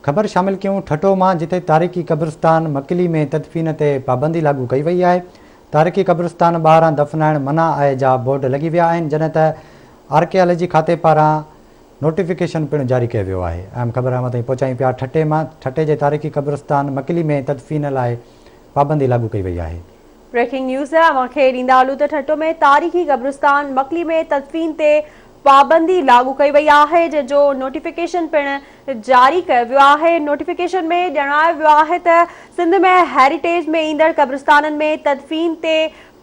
خبر شامل ڪيون ٺٽو مان جتي تاريخي قبرستان مڪلي ۾ تدفين تي پابندي لاڳو ڪئي وئي آهي تاريخي قبرستان ٻاهران دفنائڻ منع آهي جا بورڊ لڳي ويا آهن جڏهن ته آرڪيالاجي کاتي پاران نوٽيفڪيشن پڻ جاري ڪيو ويو آهي اهم خبر اوهان تائين پهچايون پيا ٺٽي مان ٺٽي جي تاريخي قبرستان مڪلي ۾ تدفين لاء پابندي لاڳو ڪئي وئي آهي. بريڪنگ نيوز اوهان کي ڏيندا هلون ته ٺٽو ۾ تاريخي قبرستان مڪلي ۾ تدفين تي پابندي لاڳو ڪئي وئي آهي جنهن جو نوٽيفڪيشن پڻ جاري ڪيو ويو آهي نوٽيفڪيشن ۾ ڄاڻايو ويو آهي ته سنڌ ۾ هيريٽيج ۾ ايندڙ قبرستانن ۾ تدفين تي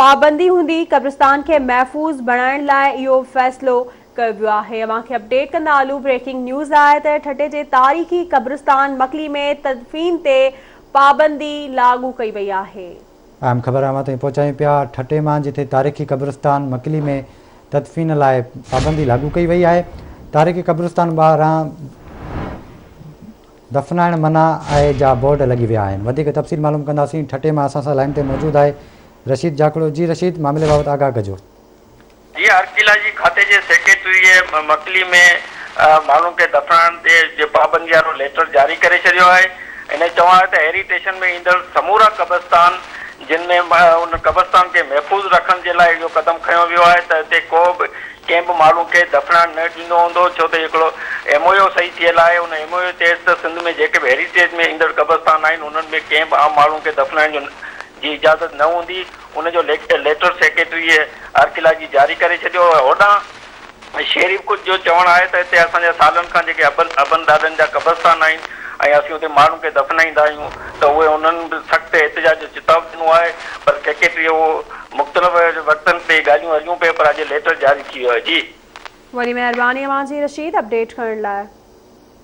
پابندي هوندي قبرستان کي محفوظ بڻائڻ لاء اهو فيصلو ڪيو ويو آهي اوهان کي اپڊيٽ ڪندا هلون بريڪنگ نيوز لاء ته ٺٽي جي تاريخي قبرستان مڪلي ۾ تدفين تي پابندي لاڳو ڪئي وئي آهي. اهم خبر اوهان تائين پهچايون پيا ٺٽي مان جٿي تاريخي قبرستان مڪلي ۾ تدفين لاء پابندي لاڳو ڪئي وئي آهي تاريخي قبرستان ٻاهران دفنائڻ منع آهي جا بورڊ لڳي ويا آهن وڌيڪ تفصيل معلوم ڪنداسين ٺٽي مان اسان سان لائين تي موجود آهي رشيد جاکوڙو جي رشيد معاملي بابت آگاهه ڪجو. جيئن ارڪيالاجي کاتي جي سيڪريٽريء مڪلي ۾ ماڻهن کي دفنائڻ تي جي پابندي وارو ليٽر جاري ڪري ڇڏيو آهي. هن جو چوڻ آهي ته هيري ٽيشن ۾ ايندڙ سمورا قبرستان جن ۾ ان قبرستان کي محفوظ رکڻ جي لاء اهو قدم کنيو ويو آهي ته هتي ڪو به ڪنهن به ماڻهو کي دفنائڻ نه ڏيندو هوندو ڇو ته اهو هڪڙو ايم او يو صحيح ٿيل آهي ان ايم او يو چيس ته سنڌ ۾ جيڪي به هيري ٽيج ۾ ايندڙ قبرستان آهن انهن ۾ ڪنهن به عام ماڻهو کي دفنائڻ جو جي اجازت نه هوندي، ان جو ليٽر سيڪريٽريء آرڪيلاجي جاري ڪري ڇڏيو هو. هوڏانهن شيريف ڪوچ جو چوڻ آهي ته هتي اسان جا سالن کان جيڪي ابن ابن ڏاڏن جا قبرستان آهن ۽ اسين اتي ماڻهن کي دفنائيندا آهيون ته اهي انهن به سخت احتجاج جو چتاء ڏنو آهي پر سيڪريٽريء اهو مختلف وقتن تي ڳالهيون هليون پيون پر اڄ ليٽر جاري ٿي ويو آهي. جي. وڏي مهرباني اوهان جي رشيد اپڊيٽ ڪرڻ لاء.